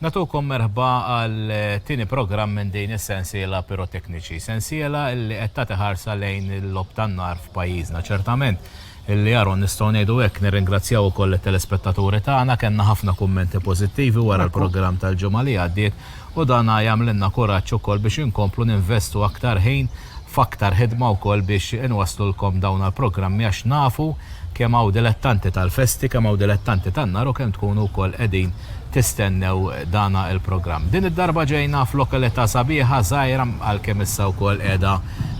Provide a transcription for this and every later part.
Natukom merħba għal eh, tini program minn din is-sensiela pirotekniċi. Sensiela li qed tagħti ħarsa lejn il-lob tan-nar f'pajjiżna ċertament. Illi Aaron, nistgħu ngħidu hekk. Nirringrazzjaw ukoll lit-telespettaturi tagħna. Kellna ħafna kummenti pożittivi wara l-programm tal-ġimgħa li għaddiet u dan jagħmlilna kuraġġ ukoll biex inkomplu ninvestu aktar ħin f'aktar ħidma wkoll biex inwasslulkom dawn għall-programmi għax nafu kemm hawn dilettanti tal-festi, kemm hawn dilettanti tan-nar u kemm tkunu wkoll qegħdin tistennew dana il-programm. Din id-darba ġejna f'lokalita' sabiħa, żgħira, għalkemm issa wkoll qiegħda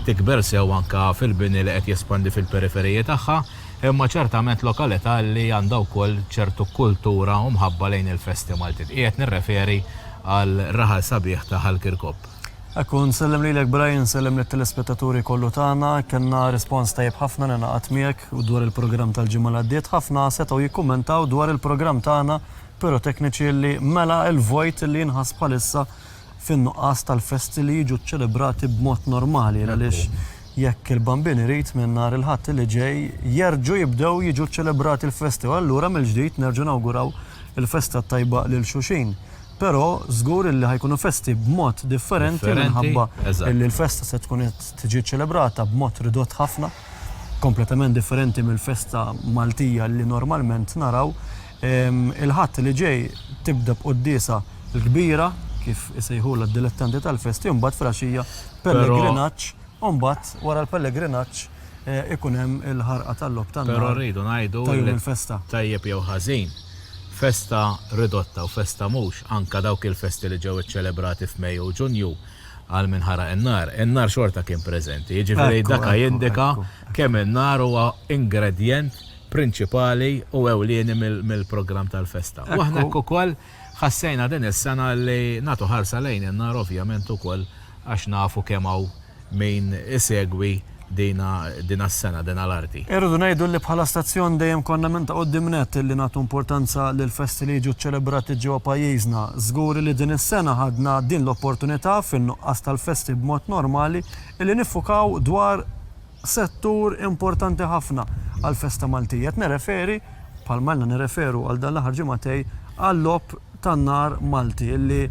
tikber sew anke fil-bini li qed jespandi fil-periferiji tagħha, imma ċertament lokalita' li għandha wkoll ċertu kultura u mħabba lejn il-festi Maltin. Qiegħed nirreferi għal raħal sabiħ ta' Ħal Kirkop. Hekk hu, nsellem lilek Brian, nsellem lit-telespettaturi kollu tagħna. Kellna rispons tajjeb ħafna, ningħaqad miegħek, dwar il-programm tal-ġimgħa li għaddiet. Ħafna setgħu jikkummentaw dwar il-programm tagħna. pirotekniċi li mela l-vojt li jinħass bħalissa fin-nuqqas tal-festi li jiġu ċċelebrati b'mod normali għaliex jekk il-Bambin irid minn nhar il-Ħadd li ġej jerġgħu jibdew jiġu ċċelebrati l-festi u allura mill-ġdid nerġgħu nawguraw il-festa t-tajba lil xulxin. Però żgur illi ħa jkunu festi b'mod differenti minħabba illi l-festa se tkun qed tiġi ċċelebrata b'mod ridott ħafna, kompletament differenti mill-festa Maltija li normalment naraw. Il-Ħadd li ġej tibda b'quddiesa l-kbira, kif isejħulha d-dilettanti tal-festi, u mbagħad filgħaxija pellegrinaġġ, u mbagħad wara l-pellegrinaġġ ikun hemm il-ħarqa tal-logħob tan-nar. Però rridu ngħidu li tajjeb jew ħażin, festa ridotta u festa mhux, anke dawk il-festi li ġew iċċelebrati f'Mejju u Ġunju għal min ħaraq in-nar, in-nar xorta kien preżenti. Jiġifieri daka jindika kemm in-nar huwa ingredjent prinċipali u ewlieni mill-programm tal-festa. U aħna hekk ukoll ħassejna din is-sena li nagħtu ħarsa lejn in-nar ovvjament ukoll għax nafu kemm hawn min isegwi dina s-sena, dina l-arti. Irridu ngħidu li bħala stazzjon dejjem konna minn ta' quddiem nett li nagħtu importanza lill-festi li jiġu ċċelebrati ġewwa pajjiżna. Żgur li din is-sena ħadna din l-opportunità, fin-nuqqas tal-festi b'mod normali, li niffukaw dwar, settur importanti ħafna għall-festa Maltija. Qed nirreferi, bħalma ilna nirreferu għal dan l-aħħar ġimagħtej, għal-Logħob tan-Nar Malti li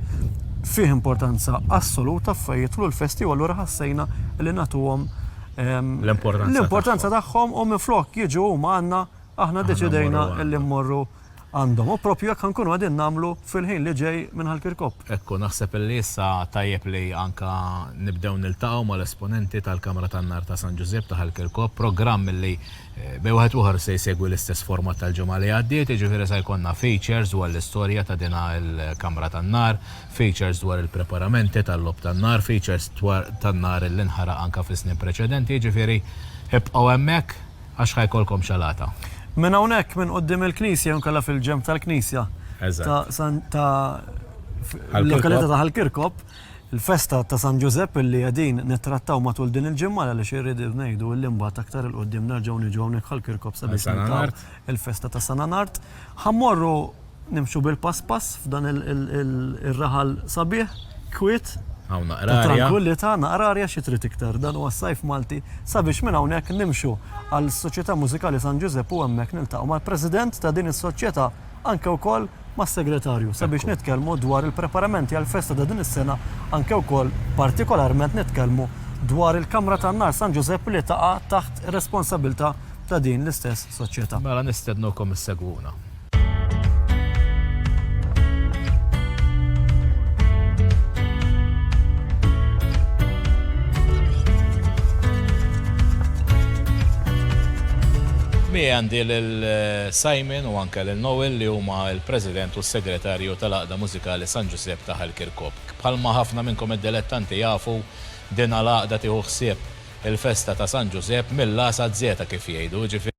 fih importanza assoluta fejn jidħlu l-festi u allura ħassejna li nagħtuhom l-importanza tagħhom u minflok jiġu huma għandna aħna ddeċidejna li mmorru għandhom u proprju hekk ħankunu qegħdin nagħmlu fil-ħin li ġej minn Ħal Kirkop. Hekk hu naħseb illi issa tajjeb li anke nibdew niltaqgħu mal-esponenti tal-Kamra tan-Nar ta' San Ġużieb ta' Ħal Kirkop, programm illi bejn wieħed u ieħor se jsegwi l-istess format tal-ġimgħa li għaddiet, jiġifieri se jkollna features dwar l-istorja ta' din il-Kamra tan-Nar, features dwar il-preparamenti tal-Logħob tan-Nar, features dwar tan-nar illi nħaraq anke fis-snin preċedenti, jiġifieri ibqgħu hemmhekk. għax ħa jkollkom xalata. Minn hawnhekk, minn quddiem il-knisja jew inkella fil-ġenb tal-knisja ta' San ta' l-lokalità ta' Ħal Kirkop, il-festa ta' San Ġużepp li qegħdin nittrattaw matul din il-ġimgħa għaliex irridu ngħidu li mbagħad aktar 'il quddiem nerġgħu niġu hawnhekk Ħal Kirkop sabiex niltaqgħu il-festa ta' San Anard. Ħa mmorru Nimxu bil-pass pass f'dan ir-raħal sabiħ, kwiet, ta' trankwillità, naqra arja xi trid iktar. Dan huwa s-Sajf Malti sabiex minn hawnhekk nimxu għall-Soċjetà Mużikali San Ġużepp u hemmhekk niltaqgħu mal-President ta' din is-Soċjetà anke wkoll mas-Segretarju sabiex nitkellmu dwar il-preparamenti għall-festa ta' din is-sena anke wkoll partikolarment nitkellmu dwar il-Kamra tan-Nar San Ġużepp li taqa' taħt ir-responsabilità ta' din l-istess Soċjetà. Mela nistednukom issegwuna. Miegħi għandi lil Simon u anke lil Noel li huma l-President u s-Segretarju tal-Għaqda Mużikali San Ġużepp ta' Ħal Kirkop. Bħalma ħafna minnkom id-dilettanti jafu, din l-għaqda tieħu ħsieb il-festa ta' San Ġużepp mill-A sa z-Z kif jgħidu, jiġifieri,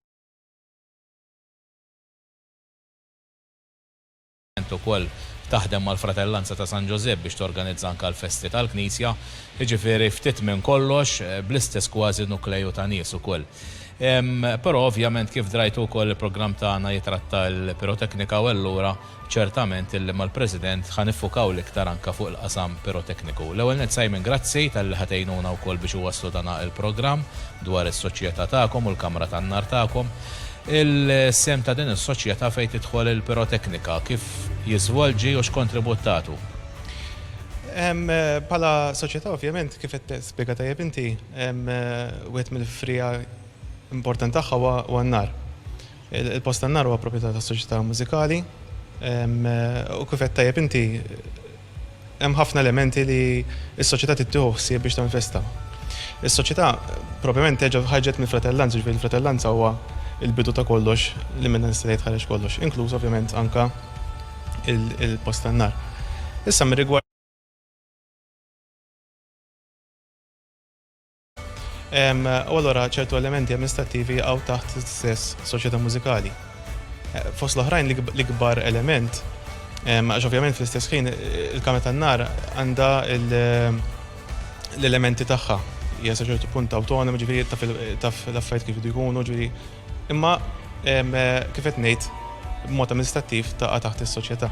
Int ukoll taħdem mal-Fratellanza ta' San Ġużepp biex torganizza anke l-festi tal-Knisja, jiġifieri ftit minn kollox bl-istess kważi nukleju ta' nies ukoll. Però ovvjament kif drajtu wkoll il-programm tagħna jitratta l-piroteknika u allura, Ċertament illum mal-President ħa niffukaw l-iktar anke fuq il-qasam pirotekniku. L-ewwel nett Simon grazzi talli ħa tgħinuna wkoll biex iwasslu dana il-programm dwar is-soċjetà tagħkom u l-kamra tan-nar tagħkom. Il-sehem ta' din is-soċjetà fejn tidħol il-piroteknika, kif jiżvolġi u x'kontribut tagħtu? Bħala soċjetà ovvjament kif qed tispjega tajjeb inti, wieħed mill-friegħa importanti tagħha huwa n-nar. Il-post tan-nar huwa proprjetà ta' soċjetà mużikali u kif għedt tajjeb inti hemm ħafna elementi li s-soċjetà trid tieħu ħsieb biex tinvesta. Is-soċjetà propjament terġa' ħarġet mill-fratellanza, jiġifieri l-fratellanza huwa l-bidu ta' kollox li minnha nista' ngħid ħareġ kollox, inkluż ovvjament anke il-post tan-nar. Issa mir-rigward. U allura ċertu elementi amministrattivi jaqgħu taħt stess soċjetà mużikali. Eh, fost l-oħrajn l-ikbar element, għax ovvjament fl-istess ħin il-kamra tan-nar għandha l-elementi tagħha hija sa ċertu punt awtonomi ġifieri taf l-affarijiet kif jkunu ġifieri Imma kif qed ngħid, b'mod amministrattiv taqa' taħt is-soċjetà.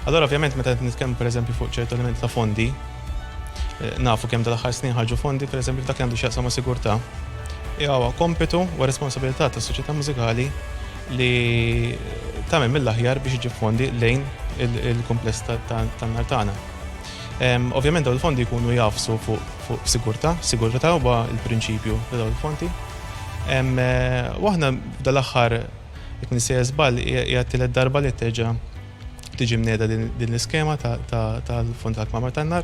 Allura ovvjament meta qed nitkellmu pereżempju fuq ċertu elementi ta' fondi, eh, nafu kemm tal-aħħar snin ħarġu fondi pereżempju f'dak li għandu x'jaqsam ma' sigurtà. Huwa kompitu u responsabilità tas-soċjetà mużikali li tagħmel mill-aħjar biex iġib fondi lejn il-kumpless tan-nar tagħna. Ovvjament dawn il-fondi jkunu jafsu fuq sigurtà, sigurtà huwa l-prinċipju ta' dawn il-fondi. U aħna dal-aħħar jekk nisejja żball hija tielet darba li terġa' tiġi mneda din l-iskema tal-fond tal-kmamar tan-nar.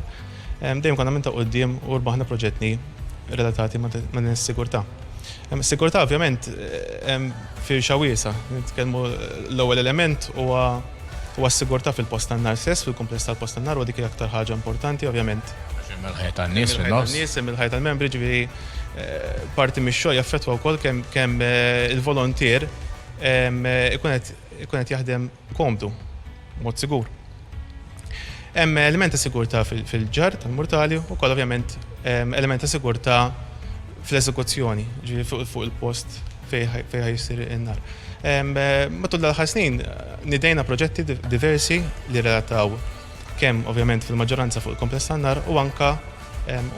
Dejjem konna minn ta' quddiem u rbaħna proġettni relatati ma' din is-sigurtà. Is-sigurtà ovvjament firxa wiesa', nitkellmu l-ewwel element huwa U għas-sigurtà fil-post tan-nar stess, fil-kumpless tal-post tan-nar, huwa dik l-aktar ħaġa importanti, ovvjament. Għax hemm il-ħajja tan-nies fin-nofs. Hemm il-ħajja tan-nies, hemm il-ħajja tal-membri, jiġifieri parti mix-xogħol jaffettwa wkoll kemm il-volontier ikun qed jaħdem komdu, b'mod sigur. Hemm element ta' sigurtà fil-ġarr tal-murtali u wkoll ovvjament element ta' sigurtà fl-eżekuzzjoni, jiġifieri fuq il-post. fejn ħa jsir in-nar. Matul l-aħħar snin nidejna proġetti diversi li relataw kemm ovvjament fil-maġġoranza fuq il-kompless tan-nar u anka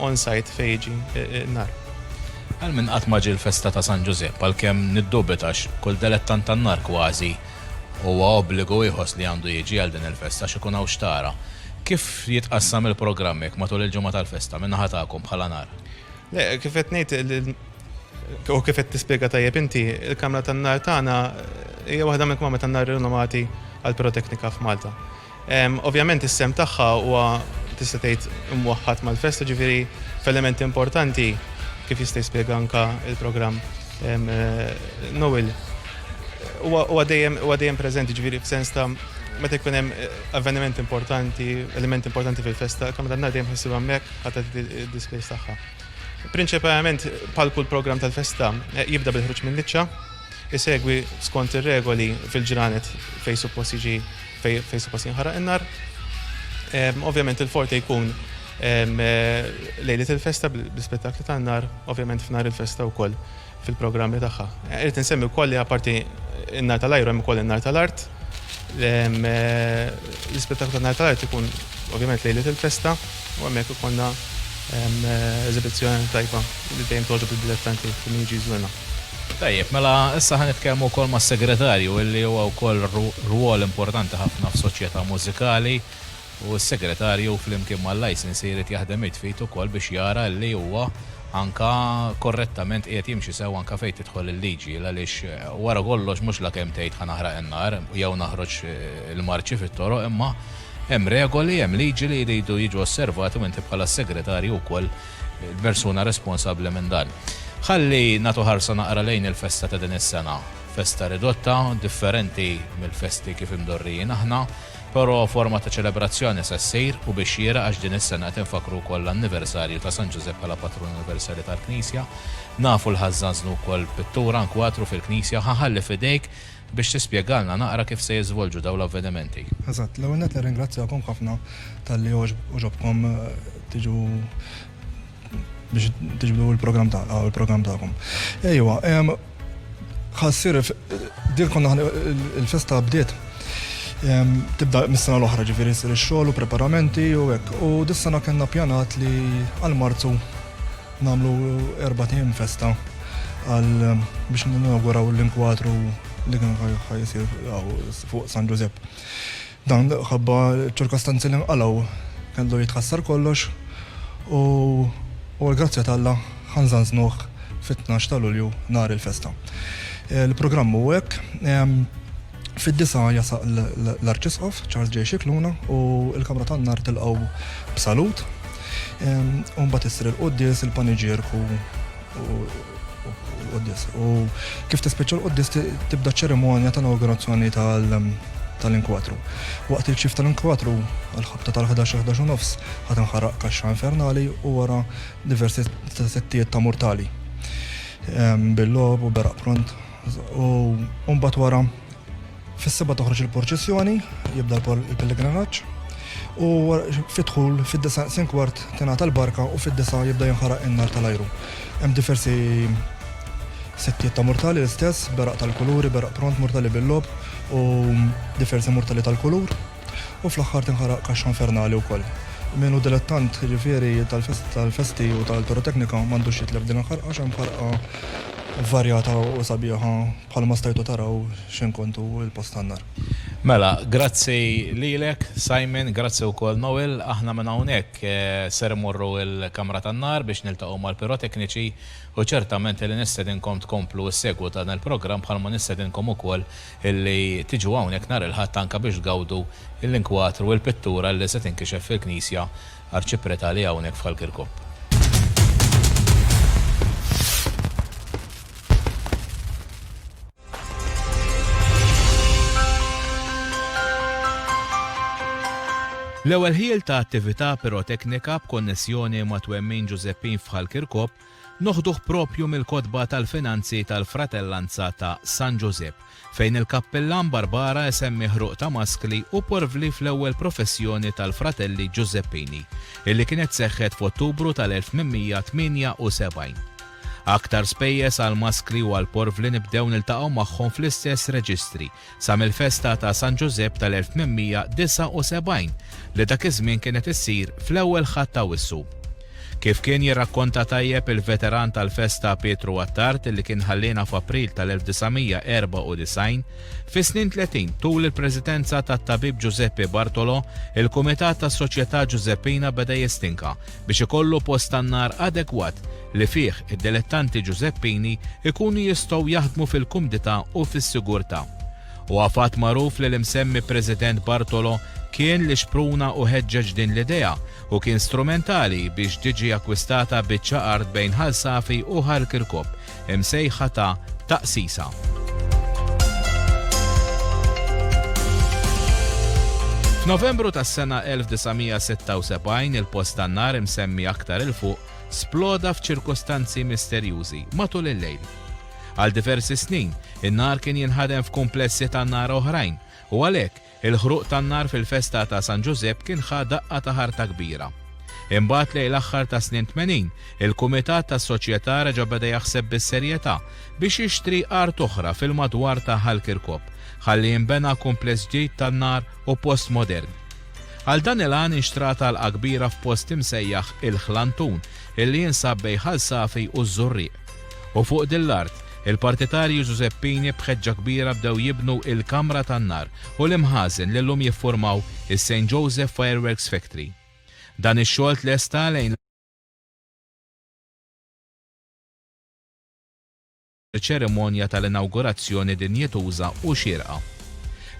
on-site fejn jiġi n-nar. Għal min qatt ma ġie l-festa ta' San Ġużepp għalkemm niddubita għax kull delettant tan-nar kważi huwa obbligu jħoss li għandu jiġi għal din il-festa għax ikun hawn x'tara. Kif jitqassam il-programm hekk matul il-ġimgħa tal-festa min-naħa tagħkom bħala nar? Le, kif qed ngħid u kif qed tispjega tajjeb inti, il-kamra tan-nar tagħna hija waħda minn kmamra tan-nar rinomati għal piroteknika f'Malta. Ovvjament is-sem tagħha huwa tista' tgħid imwaħħad mal-festa ġifieri f'element importanti kif jista' jispjega anka il-programm Noel. Huwa dejjem preżenti ġifieri f'sens ta' meta jkun hemm avveniment importanti, element importanti fil-festa, kamra tan-nar dejjem ħassib hemmhekk. ħadet id-displays tagħha. Prinċipalment bħal kull programm tal-festa eh, jibda bil-ħruġ minn liċċa, isegwi skont ir-regoli fil-ġranet fejn suppost jiġi fejn suppost jinħaraq in-nar. Ovvjament il-forte jkun eh, lejlit il-festa bl-spettakli tan-nar, ovvjament f'nar il-festa wkoll. fil-programmi tagħha. Irrid insemmi wkoll li apparti n-nar tal-ajru hemm ukoll in-nar tal-art. L-ispettaklu tan-nar tal-art ikun ovvjament lejlet il-festa u hemmhekk ikollna eżibizzjoni tajba li dejjem togħġob id-dilettanti kull min jiġi jżurna. Tajjeb, mela issa ħa nitkellmu wkoll mas-Segretarju illi huwa wkoll rwol importanti ħafna f'soċjetà mużikali. U s-Segretarju flimkien mal-Licensee jrid jaħdem id f'id ukoll biex jara li huwa anke korrettament qiegħed jimxi sew anke fejn tidħol il-liġi għaliex wara kollox mhux la kemm tgħid ħa naħraq in-nar jew naħroġ il-marċi fit-toroq imma hemm regoli, hemm liġi li jridu jiġu osservati u inti bħala s-Segretarju wkoll il-persuna responsabbli minn dan. Ħalli nagħtu ħarsa naqra lejn il-festa ta' din is-sena. Festa ridotta, differenti mill-festi kif imdorrijin aħna. Però forma ta' ċelebrazzjoni se ssir u bix-xieraq għax din is-sena qed infakkru wkoll l-anniversarju ta' San Ġużepp bħala patrun universali tal-Knisja. Nafu li ħa żżanżnu wkoll pittura nkwatru fil-Knisja u ħa nħalli f'idejk biex tispjegalna naqra kif se jiżvolġu dawn l-avvenimenti. Eżatt. L-ewwel nett nirringrazzjakom ħafna talli għoġobkom tiġu biex tiġbdu il-program ta' għaw il-program ta'kom. Ejwa, ħassir, dil konna il-festa bdiet. Tibda mis-sena l-oħra ġifiri s xogħol u preparamenti u hekk. U dis-sena kellna pjanat li għal-Marzu namlu erba' tim festa għal biex ninauguraw l-inkwatru li kien ħajsir fuq San Ġużepp. Dan minħabba ċ-ċirkostanzi li nqalgħu kellu jitħassar kollox u u l-grazzja t'Alla ħanżanżnuh fit-tnax ta' Lulju nhar il-festa. Il-programm hu hekk, fid-disgħa jasaq l-Arċisqof Charles J. Scicluna u l-Kamra tan-Nar tilqgħu b'salut u mbagħad issir il-quddies, il-paniġierku u Quddis. U kif tispiċċa l-quddis tibda ċerimonja ta' inaugurazzjoni tal-inkwatru. Waqt il-ċif tal-inkwatru, għal-ħabta tal-11-11 nofs, ħad inħaraq kaxxa infernali u wara diversi settijiet ta' mortali. Ehm, Bil-lob u beraq pront. U mbagħad wara Fis-Sibt toħroġ il-purċissjoni, jibda l-pellegrinaġġ, u fid-dħul fid-disa' naqsin kwart tingħata l-barka u fid-disa' jibda jinħaraq in-nar tal-ajru. Hemm diversi settijiet ta' murtali l-istess, beraq tal-kuluri, beraq pront, murtali bil-logħob u diversi murtali tal-kulur. U fl-aħħar tinħaraq kaxxa infernali wkoll. Min hu dilettant, jiġifieri tal-festi u tal-piroteknika m'għandux jitlef din il-ħarqa għax hemm ħarqa varjata u sabiħa. Bħalma stajtu taraw x'hemm kontu il-post tan-nar. Mela, grazzi lilek, Simon, grazzi wkoll Noel. Aħna minn hawnhekk ser immorru l-kamra tan-nar biex niltaqgħu mal-pirotekniċi u ċertament li nistedinkom tkomplu s-segwu ta' dan il-programm bħalma nistedinkom ukoll illi tiġu hawnhekk nhar il-Ħadd anke biex tgawdu l-inkwatru, il-pittura li se tinkixef fil-knisja Arċipretali hawnhekk f'Ħal Kirkop. L-ewwel ħiel ta' attività piroteknika b'konnessjoni ma' Twemmin Ġużeppin f'Ħal Kirkop Noħduh proprju mill-kotba tal-finanzi tal-Fratellanza ta' San Ġużepp, fejn il-kappillan Barbara isemmi ħruq ta' maskli u porvli fl-ewwel professjoni tal-Fratelli Ġużeppini, illi kienet seħħet f'Ottubru tal-1878. Aktar spejjeż għall-maskli u għall-porvli nibdew niltaqgħu magħhom fl-istess reġistri, sa mill-festa ta' San Ġużepp tal-1879 li dak iż-żmien kienet issir fl-ewwel Ħadd ta' Awwissu. Kif kien jirrakkonta tajjeb il-veteran tal-festa Pietru Attard li kien ħalliena f'April tal-1994, fis-snin tletin tul il-presidenza tat-Tabib Ġużeppi Bartolo, il-Kumitat tas-Soċjetà Ġużeppina beda jistinka biex ikollu post tan-nar adegwat li fih id-dilettanti Ġużeppini jkunu jistgħu jaħdmu fil-kumdità u fis-sigurtà. Huwa fatt magħruf li l-imsemmi President Bartolo kien li xpruna u ħeġġeġ din l-idea u kien strumentali biex tiġi akkwistata biċċa art bejn Ħal Safi u Ħal Kirkop imsejħa ta' Taqsisa. F'Novembru tas-sena 1976 il-post tan-nar imsemmi aktar 'il fuq sploda f'ċirkustanzi misterjużi matul il-lejl. Għal diversi snin, in-nar kien jinħadem f'kumplessi tan-nar oħrajn u għalhekk, il-ħruq tan-nar fil-festa ta' San Ġużepp kien ħa daqqa ta' ħarta kbira. Imbagħad lejn l-aħħar tas-snin tmenin, il-kumitat tas-soċjetà reġa' beda jaħseb bis-serjetà biex jixtri art oħra fil-madwar ta' Ħal Kirkop ħalli jinbena kumpless ġdid tan-nar u post modern. Għal dan il-għan inxtrat għalqa kbira f'post imsejjaħ il-Ħlantun, illi jinsab bejn Ħal Safi u ż-Żurrieq. U fuq din l-art, il-partitarji Ġużeppini b'ħeġġa kbira bdew jibnu il-kamra tan-nar u l-imħażen li llum jiffurmaw is-Saint Joseph Fireworks Factory. Dan ix-xogħol tlesta lejn. ċerimonja tal-inawgurazzjoni dinjituża u xierqa.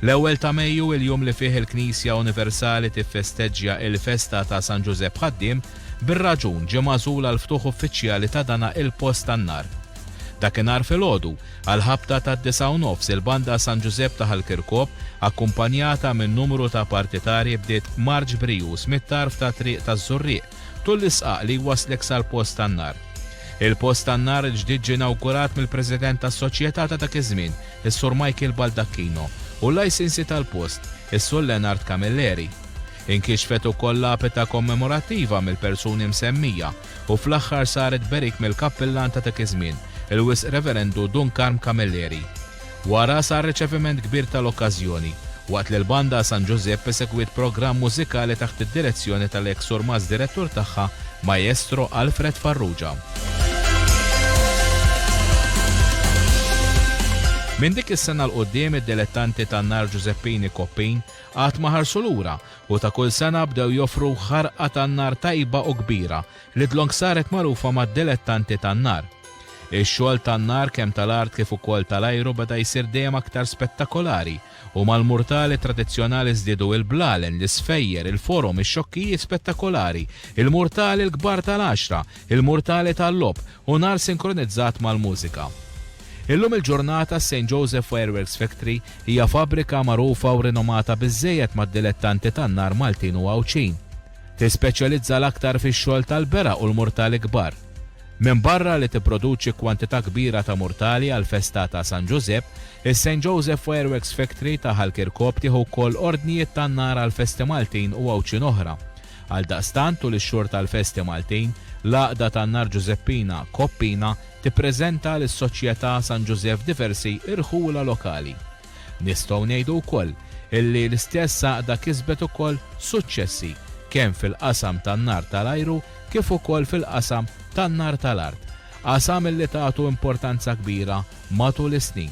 L-ewwel ta' Mejju, il-jum li fih il-Knisja Universali tiffesteġġja l-festa ta' San Ġużepp Ħaddiem, bir-raġun ġie magħżul għall-ftuħ uffiċjali ta' dana il-post tan-nar. Dakinhar filgħodu, għall-ħabta tad-disgħa u nofs il-Banda San Ġużepp ta' Ħal Kirkop, akkumpanjata minn numru ta' partitarji bdiet marċ brijuż mit-tarf tat-Triq taż-Żurrieq, tul l-isqaq li jwasslek sal-post tan-nar. Il-post tan-nar il-ġdid ġie inawgurat mill-President tas-Soċjetà ta' dak iż-żmien, is-Sur Michael Baldacchino, u l-lajsinsi tal-post, is-Sur Leonard Camilleri. Inkixfet ukoll lapita kommemorattiva mill-persuni msemmija u fl-aħħar saret berik mill-Kappillan ta' dak iż-żmien, il-Wisq Reverendu Dun Karm Camilleri. Wara sar riċeviment kbir tal-okkażjoni, waqt li l-Banda San Ġużepp esegwiet programm mużikali taħt id-direzzjoni tal-eks Surmast Direttur tagħha, Maestro Alfred Farrugia. Minn dik is-sena l qudiem id-dilettanti tan-nar Ġużeppini Koppin qatt ma ħarsu lura u ta' kull sena bdew joffru ħarqa tan-nar tajba u kbira Lidlong saret magħrufa mad-dilettanti tan-nar. Ix-xogħol tan-nar kemm tal-art kif ukoll tal-ajru beda jsir dejjem aktar spettakolari u mal-murtali tradizzjonali żdiedu il-blalen, l-isfejjer, il-forom, ix-xokkijiet spettakolari, il-murtali l-kbar tal-għaxra, il-murtali tal-logħob u nar sinkronizzat mal-mużika. Illum il-ġurnata s-Saint Joseph Fireworks Factory hija fabbrika magħrufa u rinomata biżżejjed mad-dilettanti tan-nar Maltin u Għawdxin. Tispeċjalizza l-aktar fix-xogħol tal-beraq u l-murtali kbar. Minbarra li tipproduċi kwantità kbira ta' murtali għall-festa ta' San Ġużepp, is-Saint Joseph Fireworks Factory ta' Ħal Kirkop tieħu wkoll ordnijiet tan-nar għal festi Maltin u Għawdxin oħra. Għaldaqstant, tul ix-xhur tal-festi Maltin, l-Għaqda tan-Nar Ġużeppina, Koppina, tippreżenta lis-Soċjetà San Ġużeff diversi irħula lokali. Nistgħu ngħidu wkoll illi l-istess għaqda kisbet ukoll suċċessi kemm fil-qasam tan-nar tal-ajru kif ukoll fil-qasam tan-nar tal-art, qasam illi tatu importanza kbira matul is-snin.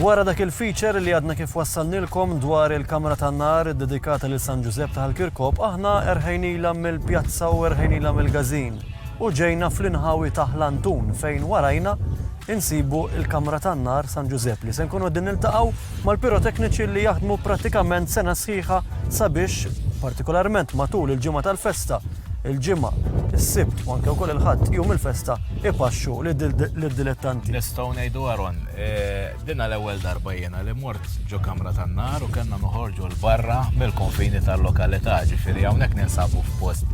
Wara dak il-feature li għadna kif wassalnilkom dwar il-kamra tan nar dedikata lil San Ġużepp ta' l-Kirkop, aħna erħejnila mill-pjazza u erħejnila mill-gazin. U ġejna fl-inħawi ta' l-Antun fejn warajna insibu l-kamra tan-nar San Ġużepp li se nkunu qegħdin niltaqgħu mal-pirotekniċi li jaħdmu prattikament sena sħiħa sabiex, partikolarment matul il-ġimgħa tal-festa, il-Ġimgħa, is-Sibt u anke wkoll il-Ħadd, jum il-festa, ipaxxu lid-dilettanti. Nistgħu ngħidu Aaron, dinha l-ewwel darba jiena li mort ġo kamra tan-nar u kellna noħorġu 'l barra mill-konfini tal-lokalità, ġifieri hawnhekk ninsabu f'post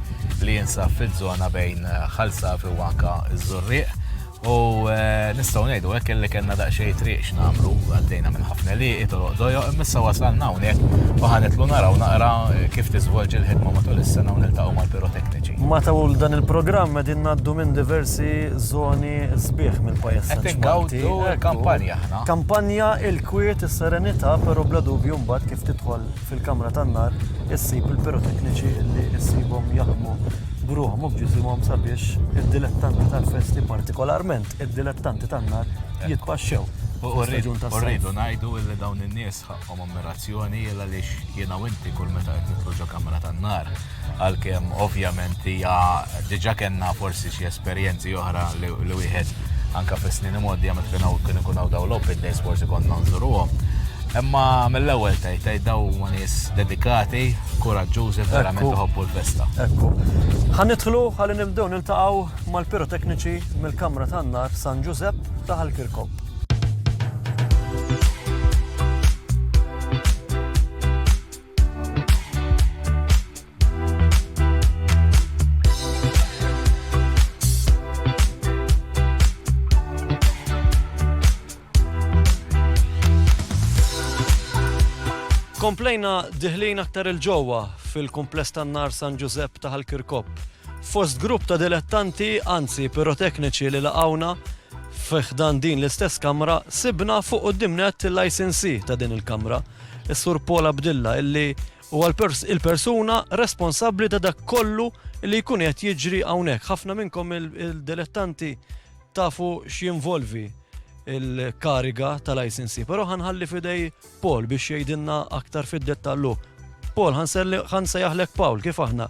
li jinsab fiż-żona bejn Ħal Safi u anke ż-Żurrieq. U nistgħu ngħidu hekk illi kellna daqsxejn triq x'nagħmlu, għaddejna minn ħafna liqi toroq dojoq, imissa wasalna hawnhekk u ħanitlu naraw naqra kif tiżvolġi l-ħidma matul is-sena u niltaqgħu mal-pirotekniċi. Matul dan il-programm qegħdin ngħaddu minn diversi żoni sbieħ mill-pajjiż San Ġwann. Qed ingawdu l-kampanja aħna. Kampanja il-kwiet, is-serenità, però bla dubju mbagħad kif tidħol fil-kamra tan-nar issib il-pirotekniċi li issibhom jaħdmu bruħhom u b'ġisimhom sabiex id-dilettanti tal-festi partikolarment id-dilettanti tan-nar jitpaxxew. U rridu ngħidu li dawn in-nies ħaqqhom ammirazzjoni għaliex jiena u inti kull meta qed nitlu ġo kamra tan-nar għalkemm ovvjament hija diġà kellna forsi xi esperjenzi oħra li wieħed anka fis-snin imgħoddi għamet kien hawn kien ikun hawn dawn l-open days forsi konna nżuruhom. Imma mill-ewwel tgħid tgħid daw ma nies dedikati, kuraġġużi verament iħobbu l-festa. Ekku. Ħa nidħlu ħalli nibdew niltaqgħu mal-pirotekniċi mill-Kamra tan-Nar San Ġużepp ta' Ħalkirkob. Komplejna diħlin aktar il-ġowa fil-kumpless tan-nar San Ġużepp ta' Kirkop. Fost grupp ta' dilettanti, anzi pirotekniċi li laqawna, fiħdan din l-istess kamra, sibna fuq qoddimnet l-ICNC ta' din il-kamra. is-Sur Paul Abdilla illi huwa l-persuna responsabbli ta' dak kollu li jkun qed jiġri hawnhekk. Ħafna minnkom il-dilettanti tafu x'jinvolvi il-kariga tal-ICNC, però ħanħalli fidej Paul biex jgħidilna aktar fid-dettallu. Paul, ħanse jaħlek Paul, kif aħna?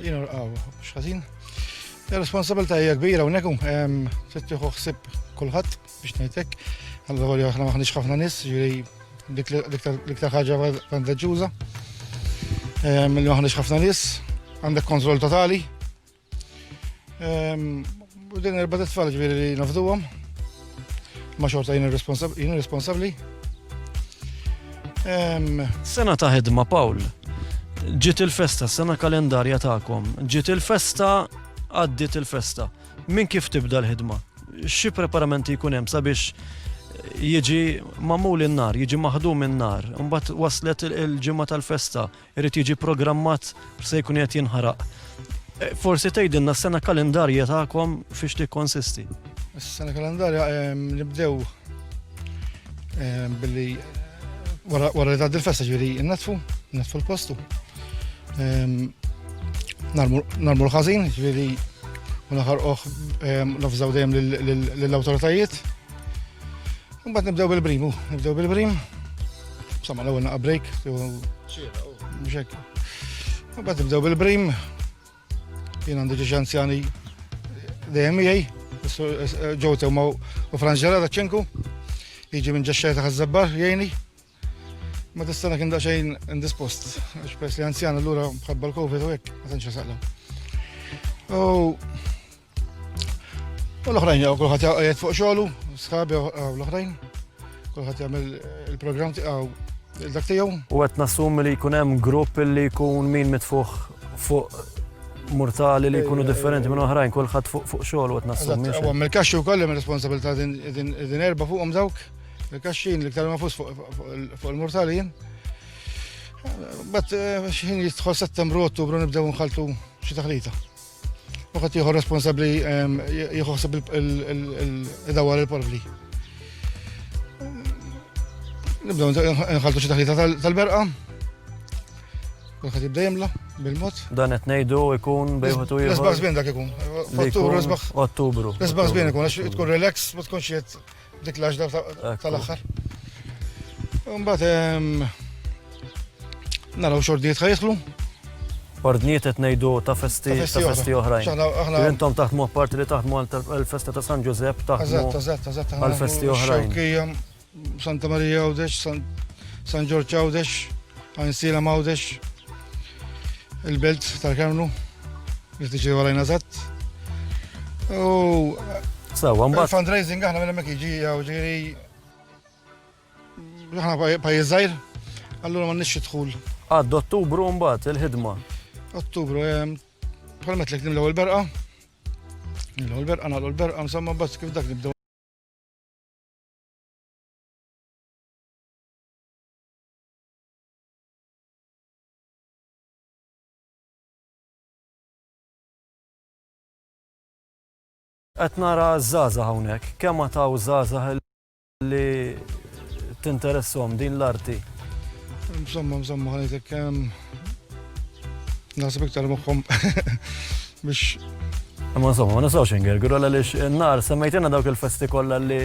Jina rqaw, xħazin. Il-responsabilta hija kbira unnekum, tittiħu xsib kullħat. biex ngħidlek, għandha volja aħna maħniex ħafna nies, jiġri l-iktar ħaġa vantaġġuża. Ehm, li maħniex ħafna nies, għandek kontroll totali. Ehm, u din erba' tfal ġifieri li nafduhom. Ma xorta jien irresponsabbli. Ehm, sena ta' ħidma Paul, ġiet il-festa, sena kalendarja tagħkom, ġiet il-festa, għaddiet il-festa. Minn kif tibda l-ħidma? Xi preparamenti jkun hemm sabiex jiġi mamul in-nar, jiġi maħdum in-nar, mbagħad waslet il-ġimgħa tal-festa, irid jiġi programmat se jkun qed jinħaraq. E, forsi tgħidilna s-sena kalendarja tagħkom fiex tikkonsisti. Is-sena kalendarja nibdew Ehm, billi wara li tgħaddi l-festa ġifieri nnatfu, nnatfu l-postu. Ehm, narmu l-ħażin, ġifieri u naħarqoh ehm, nafżaw dejjem lill-awtoritajiet. Mbagħad nibdew bil-brim, nibdew bil-brim. Sama l-ewwel naqa' break. Mhux hekk. Mbagħad nibdew bil-brim, Jien għandi ġiex anzjani dejjem miegħi, ġew temma u Franġela ta' ċinku, jiġi minn ġaxxaj ta' ħazzabbar jgħini. Ma tistana kien daċejn indispost, għax pers li anzjan allura mħabba l-Covid u hekk, ma tantx saqla. U U l-oħrajn jgħu kullħat jgħajt fuq xogħlu, sħabi għaw l-oħrajn, kullħat jgħamil il-programm tiegħu dak tiegħu. U qed nassum li jkun hemm grupp li jkun min mitfuħ fuq mortali li jkunu differenti minn oħrajn, kullħat fuq xogħol u qed nassum. U għamil kaxxi wkoll hemm responsabilità din erba' fuqhom dawk, il-kaxxin li ktar ma fus fuq il-mortali jien. Bat eh, xħin jistħol settembru, ottubru nibdew nħaltu xi taħlita. Uħat jieħu responsabli ehm, jieħu ħseb il-dawar il-porvli. Nibdaw nħaltu xi taħlita tal-berqa. Uħat jibda jimla bil-mod. Dan qed ngħidu jkun bejħu tu jieħu. L-isbaħ żbien dak ikun. Ottubru. Ottubru. L-isbaħ żbien ikun għax tkun relax ma tkunx qed Dik l-għaxda tal-axħar. Mbatt, naraw xordijiet ħajħlu. Ordnijiet qed ngħidu ta' festi ta' festi oħrajn. Intom taħdmu apparti li taħdmu għal festa ta' San Ġużepp taħdmu għal festi oħrajn. Santa Marija Għawdex, San Ġorġ Għawdex, Għansila Mawdex, il-Belt tal-Kermlu. Niftiċi għalajn eżatt. U. Sawa, mbagħad. Fundraising aħna minn hemmhekk jiġi jew ġieri. Aħna pajjiż żgħir, allura ma nixxi dħul. Għad Ottubru mbagħad il-ħidma. Ottubru, ehm, permet lek nimlew il-berqa. Nimlew il-berqa, nagħlu l-berqa, insomma, bas kif dak nibdew. Qed nara ż-żgħażagħ hawnhekk, kemm għad hawn żgħażagħ li tinteressahom din l-arti? Insomma, insomma, ħanejtek naħseb iktar moħħom biex. Ma insomma, ma nisawx ingergru għaliex n-nar semmejtina dawk il-festi kollha li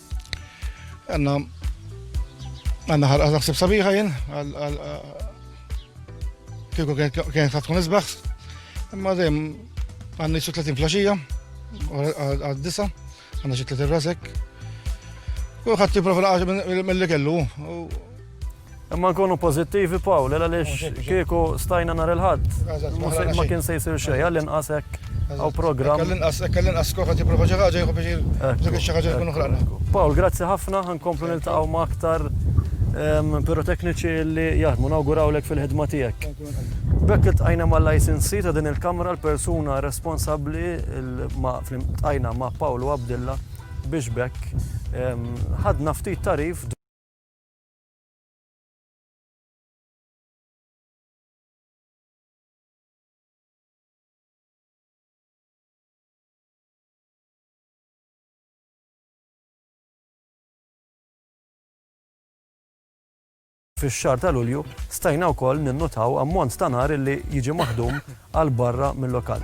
Għanna għanna ħalqa naħseb sabiħa jien kieku kien ta' tkun isbaħ. Imma dejjem għandni xi 30 flaxija għad-disa għandna xi 30 rasek. Kulħadd jipprova mill-li kellu Imma nkunu pożittivi Pawl, għaliex kieku stajna nhar il-Ħadd ma kien se jsir xejn, għall-inqas hekk hawn programm. Għall-inqas hekk għall-inqas skor ħadd jipprova xi ħaġa jieħu biex dik xi ħaġa tkun oħrajna. Pawl, grazzi ħafna, ħankomplu niltaqgħu ma' aktar pirotekniċi li jaħdmu, nawgurawlek fil-ħidma tiegħek. B'hekk iltqajna mal-ICNC ta' din il-Kamra l-persuna responsabbli iltqajna ma' Pawl u Abdilla biex b'hekk ħadna ftit tagħrif Fix-xahar ta' Lulju stajna wkoll ninnutaw ammont ta' nar li jiġi maħdum għal barra mil-lokal.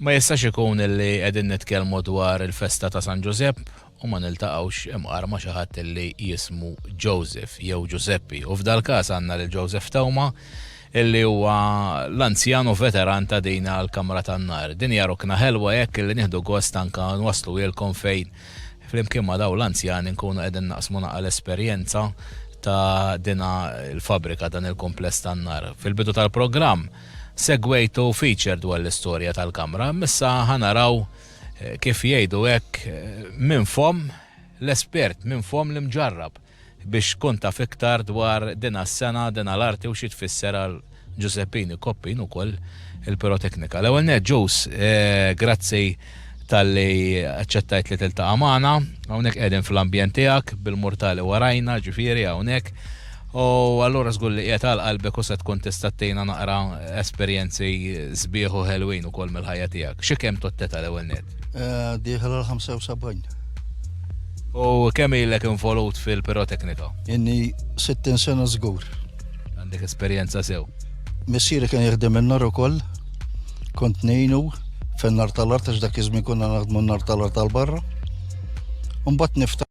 ma jistax ikun illi qegħdin nitkellmu dwar il-festa ta' San Ġużepp u ma niltaqgħux imqar ma' xi ħadd li jismu Joseph jew Ġużeppi, u f'dal-każ għandna lil Joseph Theuma li huwa l-anzjan u veteran ta' din il-kamra tan-nar. Din hija rukna ħelwa hekk li nieħdu gost anke nwassluhielkom fejn flimkien ma' dawn l-anzjani nkunu qegħdin naqsmu naqra l-esperjenza ta' din il-fabbrika, dan il-kumpless tan-nar. Fil-bidu tal-programm segwejtu feature dwar l-istorja tal-kamra, imma issa ħa naraw, eh, kif jgħidu hekk eh, minn fom l-espert, minn fom l-imġarrab biex kun taf iktar dwar din s-sena, din l-arti u xi tfisser għal Giuseppini Koppin ukoll il-piroteknika. L-ewwel net ġus, eh, grazzi tal-li aċċettajt li tiltaqa' magħna, hawnhekk qegħdin fl-ambjent tiegħek bil-mortali warajna, ġifieri hawnhekk. U allura żgur li qiegħed għal qalbek u se tkun tista' ttina naqra esperjenzi sbieħ u ħelwin ukoll mill-ħajja tiegħek. Xi kemm totteta l-ewwel net? Eh, dieħel għal 75. U kemm ilek involut fil-piroteknika? Inni 60 sena żgur. Għandek esperjenza sew. Missieri kien jaħdem in-nar ukoll, kont nejnu fin-nar tal-art għax dak iż-żmien konna naħdmu n-nar tal-art tal-barra. Mbagħad nifta'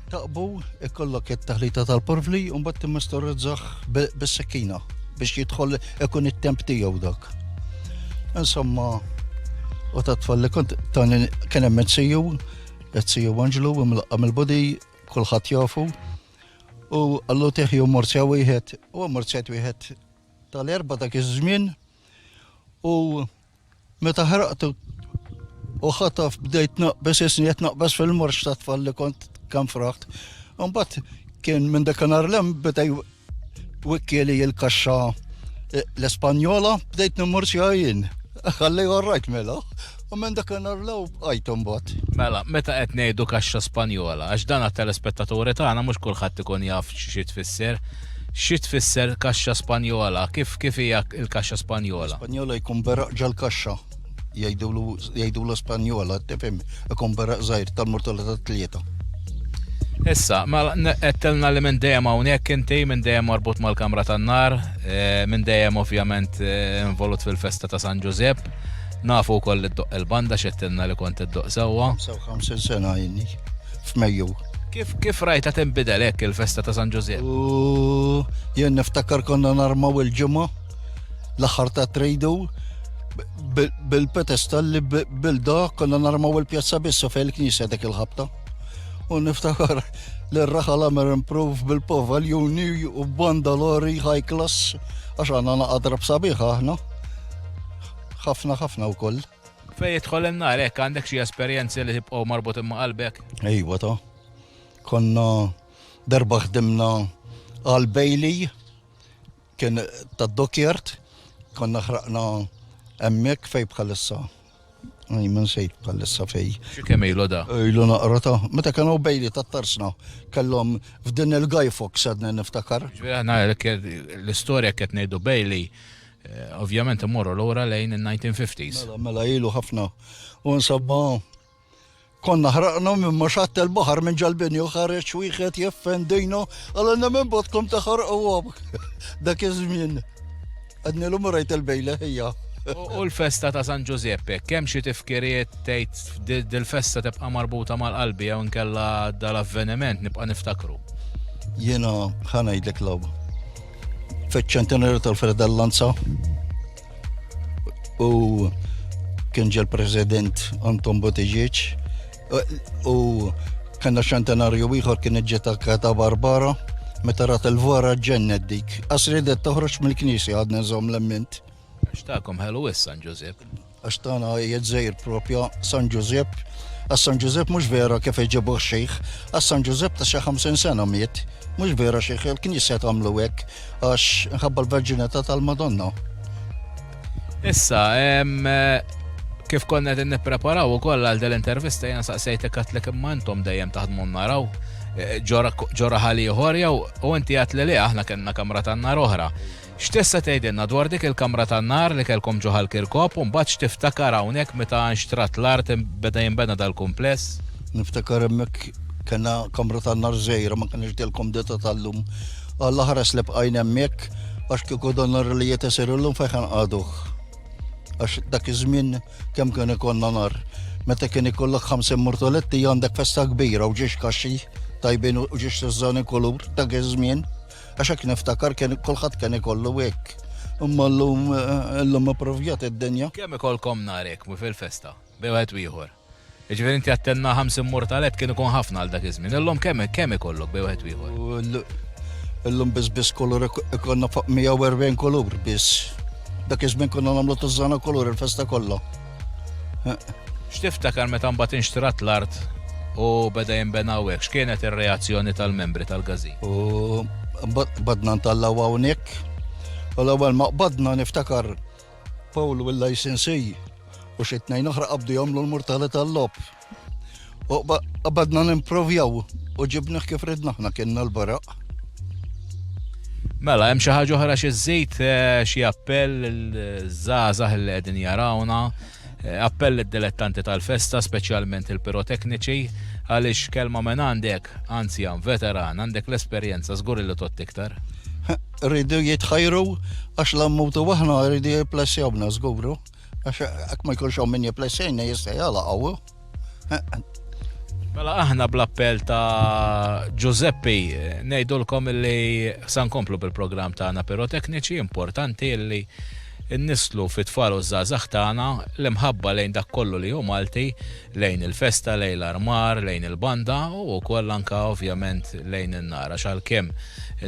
Taqbu, ikollok it-taħlita tal-porvli u mbagħad timmistorizzaħ bis-sekkina biex jidħol ikun it-temp tiegħu dak. Insomma, u ta' tfalli kont tani kien hemm it-siju, it-siju Anġlu imlaqqa mill-bodi kulħadd jafu. U għallu teħju morzja wieħed, u morzjat wieħed tal-erba dak iż-żmien u Meta ħraqtu u ħataf bdejt naqbes isni qed naqbes fil-morx ta' tfal li kont kemm fraħt. Imbagħad kien minn dak nhar lem bidej wikkieli il-kaxxa eh, l-Espanjola bdejt nimmur xi jien. Ħalli orrajt mela. U minn dak nhar lew bqajt imbagħad. Mela, meta qed ngħidu kaxxa Spanjola, għax dan għat-telespettaturi tagħna mhux kulħadd ikun jaf xi tfisser. Xi tfisser kaxxa Spanjola? Kif kif hija l-kaxxa Spanjola? Spanjola jkun beraq ġal-kaxxa. Jgħidulu jgħidula Spanjola, tifhem, ikun beraq żgħir tal-murtala tat-tlieta. Issa, mela n- qedtilna li minn dejjem hawnhekk inti, minn dejjem marbut mal-Kamra tan-Nar, eh, minn dejjem ovvjament eh, involut fil-festa ta' San Ġużepp. Nafu wkoll li ddoqq il-banda x'qedtilna li kont iddoqq sewwa. 55 sena għajni f'Mejju. Kif kif rajta tinbidel hekk il-festa ta' San Ġużiep? U jien niftakar konna narmaw il-ġimgħa l-aħħar ta' tridu bil-petesta li bilda konna narmaw il-pjazza bissa fejn il-knisja dik il-ħabta. U niftakar li r-raħal għamir improv bil-povaljuni u bandalori high class għax għanna naqadra b'sabiħa aħna. ħafna ħafna u koll. Fejn jidħol in-nar hekk għandek xi esperjenzi li tibqgħu marbutin ma' qalbek? Ejwa ta. Konna darba ħdimna għal Bailey kien ta' dokjert konna ħraqna hemmhekk fej bħalissa. Għaj, minn sejt bħalissa fej. Xikem ilu da? Ilu naqra ta' meta kienu Bailey ta' tarsna kellhom f'din il-Guy Fox għadna niftakar. Ġviri għana l-istorja kiet ngħidu Bailey Eh, ovvjament immorru l-ura lejn il-1950s. Mela, mela ilu ħafna. U nsabba konna ħraqna minn maċat il-bahar minn ġalbini u ħareċ wieħed jeffendejna għal għanna minn botkom taħar u għabk. Dak iż-żmien. Għadni l-um rajt il-bejla ħija. U l-festa ta' San Giuseppe, kemm xi tifkiriet tgħid dil-festa tibqa' marbuta mal-qalbi jew nkella dal-avveniment nibqa' niftakru. Jiena ħanajdlek l-logħba fiċ-ċentenarju tal-Fredellanza u kien ġel president Anton Botiġieċ u kena ċentenarju ieħor kien iġġiet ta' Barbara meta rat il-vara ġennet dik. Għasridet toħroġ mill-knisja għadna nżomm l-emmint. Xtakom ħelu issa, Ġużep. Għax tagħna hija d-dżejr propja San Ġużepp. Għas-San Ġużepp mhux vera kif iġibuh xejħ. Għas-San Ġużepp ta' xi ħamsin sena miet. Mhux vera xejħ, il-Knisja tagħmlu hekk għax inħabba l-Verġinità tal-Madonna. Issa, kif konna qed nippreparaw ukoll għal din intervista jien saqsejtek għatlek imma intom dejjem taħdmu naraw eh, ġora ħaliħor jew u inti għat li aħna kellna kamra tan-nar oħra. X'tista' tgħidilna dwar dik il-kamra tan-nar li kellkom ġo Ħal Kirkop u mbagħad x'tiftakar hawnhekk meta nxtrat l-art u beda jinbena dal-kumpless? Niftakar hemmhekk kellna kamra tan-nar żgħira ma kellniex dil-kumdità tal-lum. Alla ħares li bqajna hemmhekk għax kieku dan nar li qiegħed isir illum fejn ħa nqagħduh. Għax dak iż-żmien kemm kien ikollna nar. Meta kien ikollok 50 murtoletti għandek festa kbira u ġiex kaxxi tajbin u ġiex tiżżani kulur dak iż-żmien. Għax hekk niftakar kien kulħadd kien ikollu hekk. Imma llum illum ippruvjat id-dinja. Kemm ikollkom nhar hekk fil-festa bejn wieħed u ieħor? Jiġifieri inti għedt tenna ħams immur tal-għedt kien ikun ħafna għal dak iż-żmien. Illum kemm kemm ikollok bejn wieħed u ieħor? Illum biss biss kulur ikollna fuq 140 kulur biss. Dak iż-żmien konna nagħmlu tużżana kulur il-festa kollha. X'tiftakar meta mbagħad inxtrat l-art u beda jinbena hawnhekk? X'kienet ir-reazzjoni tal-membri tal-gażin? U badna ntallaw hawnhekk. U l-ewwel ma qbadna niftakar Paul u l-ICNC u xi tnejn oħra qabdu jagħmlu l-murtali tal-lob. U badna nimprovjaw u ġibniħ kif ridna ħna kienna l-baraq. Mela, hemm xi ħaġa oħra xi żejt eh, xi appell il-żgħażagħ li qegħdin jarawna, eh, appell id-dilettanti tal-festa, speċjalment il-pirotekniċi, għaliex kelma minn għandek, anzi għan veteran, għandek l-esperjenza żgur li tot iktar. Rridu jitħajru għax l-ammutu waħna rridu jiplessjawna żguru. Għax għak ma jkunx għom minni plessejna jista jgħala għawu. Mela aħna bl-appell ta' Giuseppe eh, nejdulkom li san komplu bil-program ta' għana pirotekniċi importanti li nislu fit tfal u zazax tagħna l-imħabba lejn dak kollu li hu Malti, lejn il-festa, lejn l-armar, lejn il-banda u wkoll anka ovvjament lejn in-nar għax għalkemm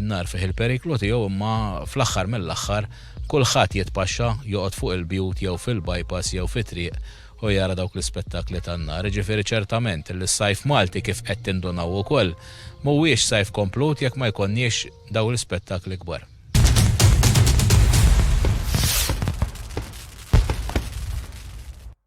in-nar fih il-periklu tiegħu imma fl-aħħar mill-aħħar Kulħadd jitpaxxa, joqgħod fuq il-bjut jew fil-bypass jew fit-triq u jara dawk l-ispettakli tan-nar. Jiġifieri ċertament li s-Sajf Malti, kif qed tindunaw ukoll, mhuwiex Sajf komplut jekk ma jkollniex dawn l-ispettakli kbar.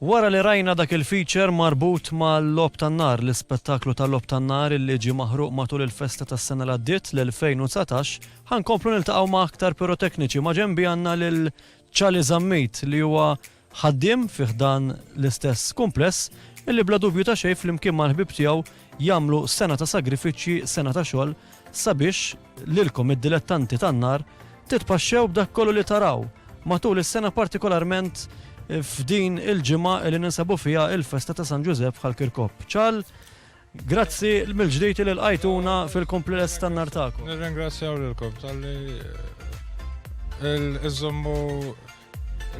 Wara li rajna dak il-feature marbut mal-Logħob tan-Nar, l-ispettaklu tal-Logħob tan-Nar illi ġie maħruq matul il-festa tas-sena li għaddiet, l-2019, ħa nkomplu niltaqgħu ma' aktar pirotekniċi. Ma' ġenbi għandna lil Chali Zammit li huwa ħaddiem fi ħdan l-istess kumpless illi bla dubju ta' xejn flimkien mal-ħbieb tiegħu jagħmlu sena ta' sagrifiċċji, sena ta' xogħol sabiex, Lilkom id-dilettanti tan-nar titpaxxew b'dak kollu li taraw matul is-sena partikolarment f'din il-ġimgħa li ninsabu fiha il-festa ta' San Ġużepp bħal Kirkop. Ċal, grazzi mill-ġdid li lqajtuna fil-kompliless tan-nar tagħkom. Nirringrazzjaw lilkom tal-li iżommu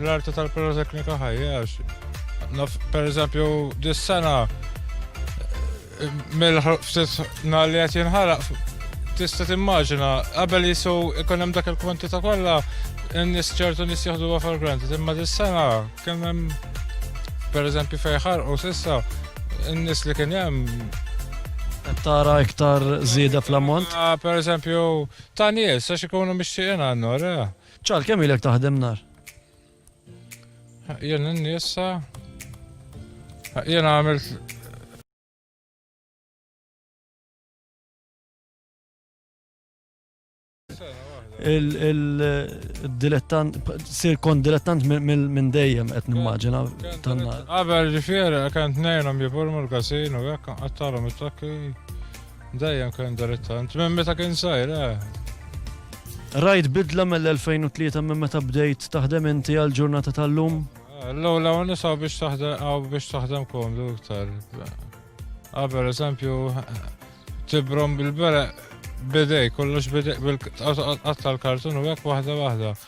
L-arti tal-piroteknika ħajja għax naf per eżempju dis-sena mill-ftit nar li qed jinħaraq tista' timmaġina qabel jisu ikun hemm dak il-kwantità kollha n-nies ċertu nies jaħduha for granted imma dis-sena kien hemm per eżempju fejn ħarqu s'issa n-nies li kien hemm tara iktar żieda fl-ammont? Ah, per eżempju, ta' nies, għax ikunu mixtieqin għannu, Ċar, kemm ilek taħdem nar? Jena n-nisa. Jena għamilt. Il-dilettant, sir kon dilettant minn dejjem qed nimmaġina tanna. Qabel ġifieri kant nejnhom jiburmu l-kasin u hekk qattalhom it-takki. Dejjem kien dilettant, minn meta kien sajr, eh. Rajt bidla mill-2003 minn meta bdejt taħdem inti għal ġurnata tal-lum? Eh, l-ewwel hawn nisa biex taħdem hawn biex taħdem komdu iktar. Qabel eżempju tibrom bil-bere bidej kollox bidej bil-qatta l-kartun u hekk waħda waħda.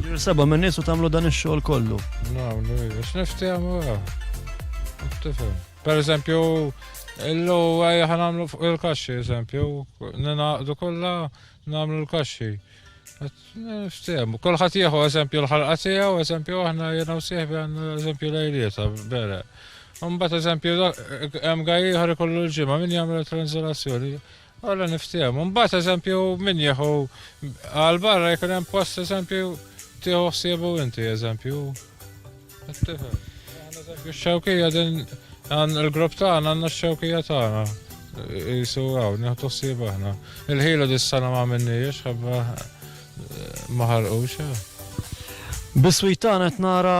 Jirseba minn nies u tagħmlu dan ix-xogħol kollu. Nagħmlu biex niftehmu Tifhem. Per eżempju, illu għajja ħanamlu fuq il-kaxxi, eżempju, ninaqdu kollha nagħmlu l-kaxxi. Niftehmu. Kulħadd jieħu eżempju l-ħalqa tiegħu, eżempju aħna jiena u sieħbi għandna eżempju lejlieta bere. Mbagħad eżempju hemm għajja ieħor ikollu l-ġimgħa min jagħmel tranżilazzjoni. Alla niftehmu. Mbagħad eżempju min jieħu għal barra jkun hemm post eżempju tieħu ħsiebu inti eżempju. Ix-xewkija din għan il-grupp tagħna għandna x-xewkija tagħna. Jisu għaw, nieħdu ħsieb aħna. Il-ħilu dis-sena ma minniex, ħabba ma ħarqux. Eh. Biswit tagħna qed nara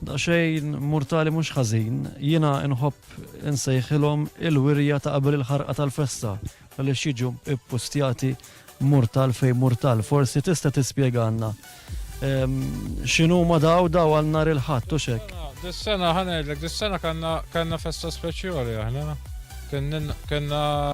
daqsxejn murtali mhux ħażin, jiena nħobb Insejħilhom il-wirja ta' qabel il-ħarqa tal-festa għaliex jiġu ppustjati murtal fejn murtal. Forsi tista' tispjegalna x'inhuma daw daw għal nhar il-Ħadd u x'hekk? Dis-sena ħa ngħidlek, dis-sena kellna festa speċjali aħna. Kellna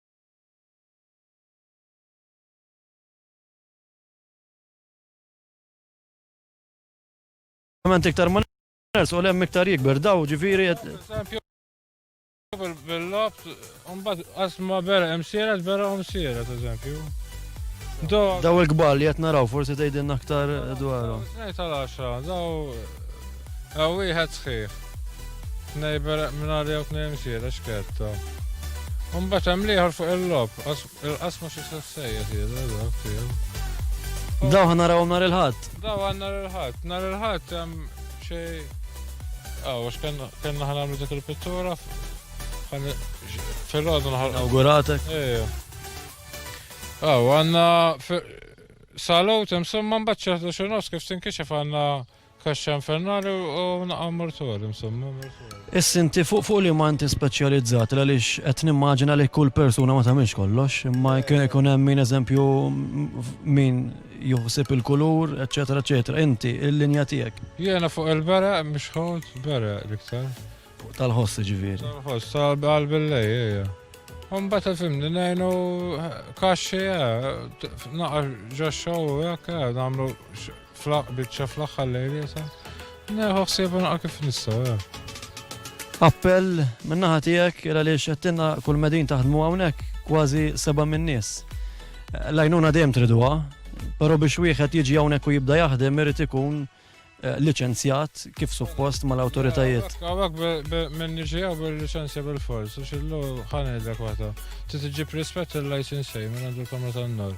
Ovvjament iktar ma ners u lem iktar jikber daw ġifiri. Bil-lab, unbat asma vera emsira, vera emsira, ta' eżempju. Daw il-kbar li jett naraw, forsi tejdin aktar dwaru. Nejt għal-10, daw Hawn wieħed sħiħ. Tnej bereq mingħajr jew tnej imxiera xketta. Imbagħad hemm l-ieħor fuq il-logħob, il-qasma xi se sejjes jidher dak tiegħu. Daw ħa narawhom nhar il-Ħadd. Daw għal nhar il-Ħadd. Nhar il-Ħadd hemm xi Aw, għax kellna ħa nagħmlu dik il-pittura fil-għodu nħal. Awguratek. Ejja. Aw, għandna salot hemm somma mbagħad xi kif tinkixef għandna Kaxxa infernali u naqqa mortali, insomma, mortali. Is-sinti fuq fuq li manti speċjalizzat għaliex qed nimmaġina li kull persuna ma tagħmilx kollox, imma kien ikun hemm min eżempju min juħsib il-kulur, eċetera, eċetera. Inti, il-linja tiegħek. Jiena fuq il-bera, mhux ħod, bera l-iktar. Fuq tal-ħoss ġifieri. Tal-ħoss, tal-billej, ejja. Umbat il-fimni, nejnu kaxxi, eh, naqa ġaxxaw, jek, eh, namlu Flaq biċċa fl-aħħar lejl jesa. Neħu ħsieba naqra kif nista' eh. Appell min-naħa tiegħek il għaliex qedtilna kull medin taħdmu hawnhekk kważi seba' min-nies. Lajnuna dejjem triduha, però biex wieħed jiġi hawnhekk u jibda jaħdem irid ikun eh, liċenzjat kif suppost mal-awtoritajiet. Għawak minn nġija bil-liċenzja bil-fors, u xillu ħanedlek waħda. Titiġib rispett il-license minn għandu l-kamra tan-nor.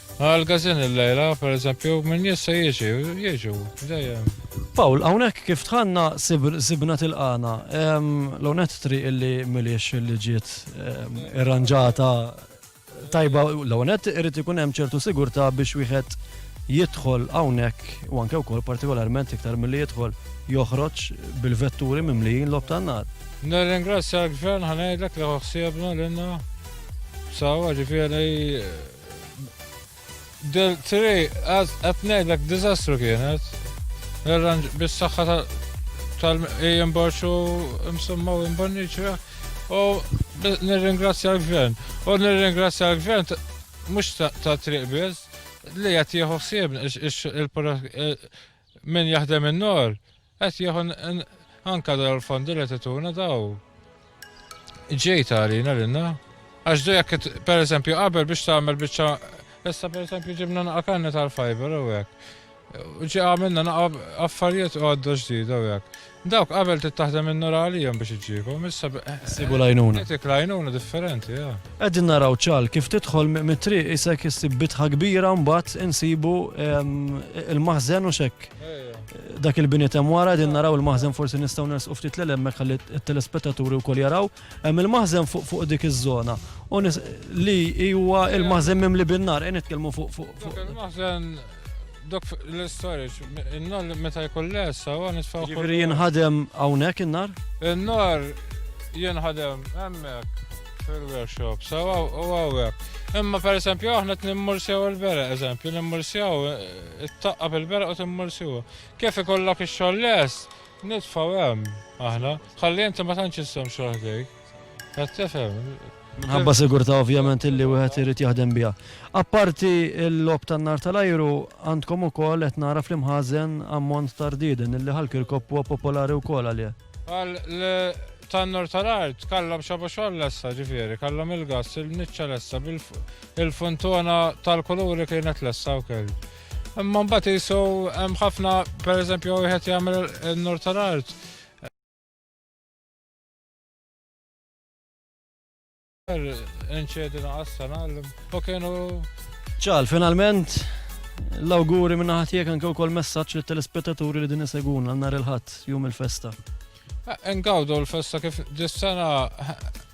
Għal gazin il-lejla, per eżempju, minn jessa jieġi, jieġu, dejjem. Paul, għawnek kif tħanna sibna til-għana, l-onet tri illi miliex illi ġiet irranġata tajba l-onet irrit ikun hemm ċertu sigurta biex wieħed jidħol hawnhekk u anke wkoll partikolarment iktar milli jidħol joħroġ bil-vetturi mimlijin lob tan-nar. Nirringrazzja l-gvern ħanajdlek li ħsiebna l-inna sawa ġifieri Del tri, qed ngħidlek diżastru kienet. L-arranġ bis-saħħa tal-ejjem borċu msumma u imbonniċra. U nirringrazzja l-gvern. U nirringrazzja l-gvern mhux ta' triq biss li qed jieħu ħsieb Min jaħdem in-nar qed jieħu anke dal-fondi li tituna daw. Ġej tarina lilna. Għax du jekk pereżempju qabel biex tagħmel biċċa issa pereżempju ġibna naqa' kanna tal-fiber u hekk. Ġi għamilna naqa' affarijiet għodda ġdida u hekk. Dawk qabel trid taħdem in-nar għalihom biex iġġiekhom, issa b'. Isibu l-għajnuna. Jagħtik l-għajnuna differenti, ah. Qegħdin naraw ċagħal kif tidħol mit-triq isek issib bitħa kbira u mbagħad insibu il-maħżen u x'hekk. Dak il-biniet hemm wara qegħdin naraw il-maħżen forsi nistgħu nersqu ftit 'l hemmek ħalli t-telespettaturi wkoll jaraw. Hemm il-maħżen fuq fuq dik iż-żona. U nis- li hi huwa il-maħżen mimli bin-nar, qed nitkellmu fuq fuq fuq. Il-maħżen dok f- l-istorage, in-nar li meta jkun lesa huwa nisfaw. Jiġifieri jinħadem hawnhekk in-nar? In-nar jinħadem hemmhekk fil-workshop, sewwa u hawnhekk. Imma pereżempju aħna qed nimmursjaw il-bereq, eżempju, nimmursjaw, eh, taqqa' bil-bereq u timmursjuha. Kif ikollok ix-xogħol lest, Nitfaw hemm aħna, ħalli inti ma tantx issem xogħol ħdejk. Qed tifhem? Minħabba sigurtà ovvjament illi wieħed irid jaħdem biha. Apparti l-lob tan-nar tal-ajru, għandkom ukoll qed nara fl-imħażen ammont ta' rdieden illi Ħal Kirkop huwa popolari wkoll għalih. Għal tan-nar tal-art kallhom xabu xogħol lessa ġifieri, kallhom il-gass, il-niċċa lessa, il-funtona tal-kuluri kienet lessa wkoll. Imma mbagħad isu hemm ħafna pereżempju wieħed jagħmel in-nur tal-art. Inċedi naqas sena u kienu. Ċal, finalment, l-awguri minna ħatijek anke u kol messaċ li telespettaturi li din isegun għannar il-ħat jum il-festa. Engawdu l-festa kif dis-sena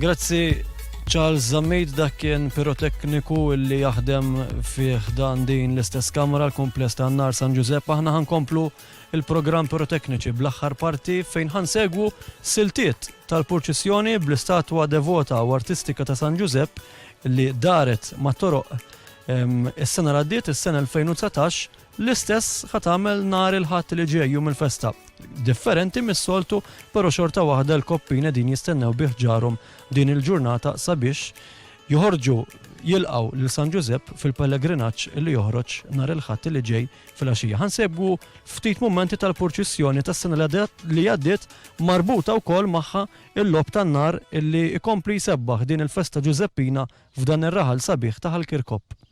Grazzi Charles Zammit dak kien pirotekniku li jaħdem fi ħdan din l-istess kamra l-kumpless ta' Nar San Ġużepp aħna ħankomplu il-programm pirotekniċi bl-aħħar parti fejn ħansegwu siltiet tal-purċissjoni bl-istatwa devota u artistika ta' San Ġużepp li daret ma' toroq is-sena l-għaddiet is-sena 2019 L-istess ħa tagħmel nhar il-Ħadd li ġej, jum il-festa. Differenti mis-soltu, però xorta waħda l-koppin qegħdin jistennew bi ħġarhom din il-ġurnata sabiex joħorġu jilqgħu lil San Ġużepp fil-pellegrinaġġ li joħroġ nhar il-Ħadd li ġej fil-għaxija. Ħansegwu ftit mumenti tal-purċissjoni tas-sena li għaddiet marbuta wkoll magħha il-lob tan-nar illi ikompli jsebbaħ din il-festa Ġużeppina f'dan ir-raħal sabiħ ta' Ħal Kirkop.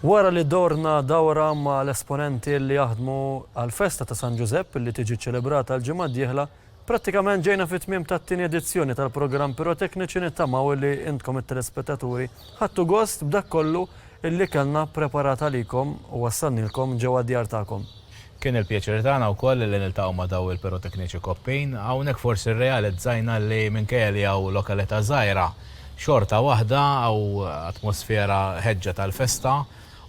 Wara li dorna dawra ma' l-esponenti li jaħdmu għall-festa ta' San Ġużepp li tiġi ċċelebrata l-ġimgħa d-dieħla, prattikament ġejna fit-tmiem tat-tieni edizzjoni tal-programm Pirotekniċi nittamaw li intkom it-telespettaturi ħadtu gost b'dak kollu li kellna ppreparat għalikom u wassalnielkom ġewwa d-djar tagħkom. Kien il-pjaċir tagħna wkoll li niltaqgħu ma' daw il-pirotekniċi koppin. Hawnhekk forsi rrealizzajna li minkejja li hawn lokalità żgħira, xorta waħda hawn atmosfera ħeġġa tal-festa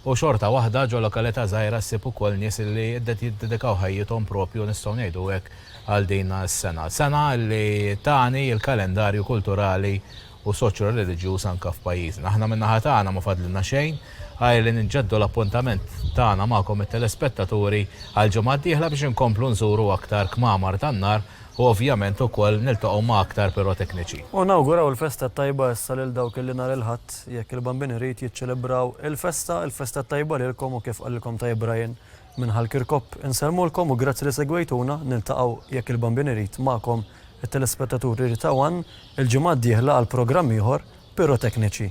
u xorta waħda ġo lokalità żgħira ssib ukoll nies li jiddedikaw ħajjithom proprju nistgħu ngħidu hekk għal din is-sena. Sena li tani l-kalendarju kulturali u soċjo-reliġjuż anke f'pajjiżna. Aħna min-naħa tagħna ma fadlilna xejn għajr li nġeddu l-appuntament tagħna magħkom it-telespettaturi għall-ġimgħa d-dieħla biex inkomplu nżuru aktar kmamar tan-nar u ovvjament ukoll niltaqgħu ma' aktar pirotekniċi. U nawguraw il-festa t-tajba issa lil dawk illi nhar il-Ħadd, jekk il-Bambin irid, jiċċelebraw il-festa. Il-festa t-tajba lilkom u kif qalilkom Tajjeb Brian, Minn Ħal Kirkop insellmulkom u grazzi li segwejtuna. Niltaqgħu, jekk il-Bambin irid, magħkom, it-telespettaturi retaw għan, il-ġimgħa d-dieħla għal programm ieħor, Pirotekniċi.